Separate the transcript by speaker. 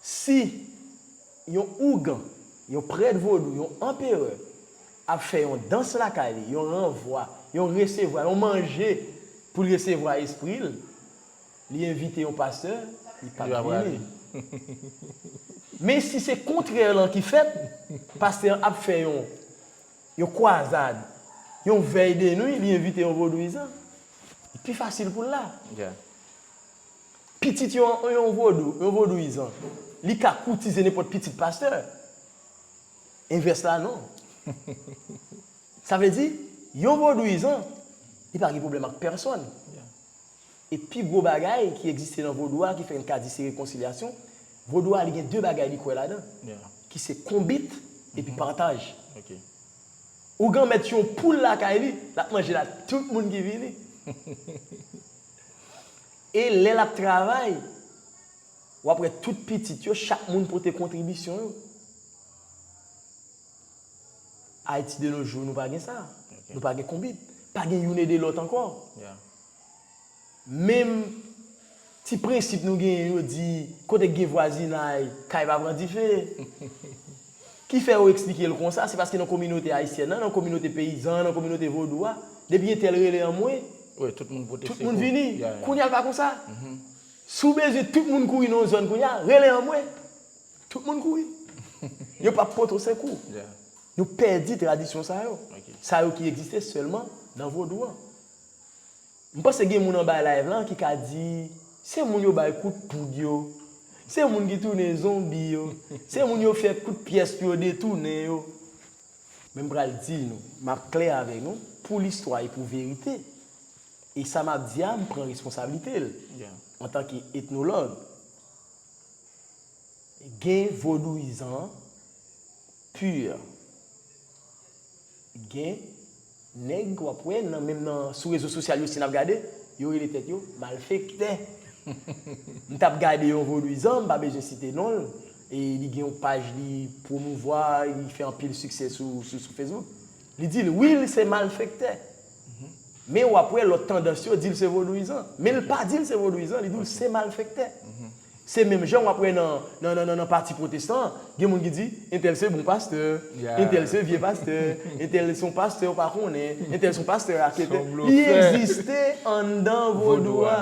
Speaker 1: Si yon ougan, yon prèt vodou, yon anperè ap fè yon dans lakay li, yon ranvwa, yon resevwa, yon manje pou l resevwa espri l, li envite yon pastè, li pa p vini. Men si se kontrè lan ki fèt, pastè an ap fè yon yon kwazad, yon vèy denwi, li envite yon vodouyizan, li pi fasil pou l la. Pitit yon yon vodou, yon vodouyizan, li ka koutize nenpòt pitit pastè. Envès la non. Sa vle di, yon vodouyizan, li pa gen pwoblèm ak pèsòn.
Speaker 2: E pi
Speaker 1: gwo bagay ki egziste nan vodou a ki fè n ka di se rekonsilyasyon, vodou a li gen de bagay li kwè ladan, ki se
Speaker 2: konbit
Speaker 1: epi pataj.
Speaker 2: Ougan
Speaker 1: mèt yon poul lakay li, l ap manje l ak tout moun ki vini. E lè lap travay, wap wè tout pitit yo, chak moun pote kontribisyon yo. Ayiti de no jou nou pa gen sa. Nou pa gen konbit. Pa gen youn ede lòt ankò. Menm ti prensip nou genyen yo di kote k gen vwazinay, kay pa pran dife. Ki fè yo eksplike l konsa, se paske nan kominote ayisyèn an, nan kominote peyizan an, nan kominote vodou a, depi gen tèl rele anmwe, tout
Speaker 2: moun vini. Kounye
Speaker 1: a l pa konsa. Si w bezwen tout moun kouri nan yon zòn kounye a, rele anmwe. Tout moun kouri. Yo pa p pote w sekou. Nou
Speaker 2: pèdi
Speaker 1: tradisyon sa yo. Sa yo ki egziste sèlman nan vodou an. M panse gen moun anba live lan ki ka di se moun yo bay kout poud yo, se moun ki tounen zonbi yo, se moun yo fè kout pyès pou yo detounen yo. Men m pral di nou, m ap klè avèk nou, pou listwa e pou verite. E sa m ap di a m pran responsablite l
Speaker 2: antanke
Speaker 1: etnològ. Gen vodouyizan pur. Gen. Nèg wap wè nan menm nan sou rezo sosyal yo si nap gade, yo rele tèt yo malfektè. M tap gade yon vodwizan, m pa bezwen site non l, e li gen yon paj li pwomouvwa, li fè anpil siksè sou sou Facebook. Li di l wi l se malfektè. Men wap wè lòt tandans yo di l se vodwizan. Men l pa di l se vodwizan, li di w se malfektè. Se menm jan wap wè nan nan pati pwotestan an, gen moun ki di, entèl se bon pastè, entèl se vye pastè, entèl son pastè ou pa konnen, entèl son pastè raketè, li egziste anndan vodou a.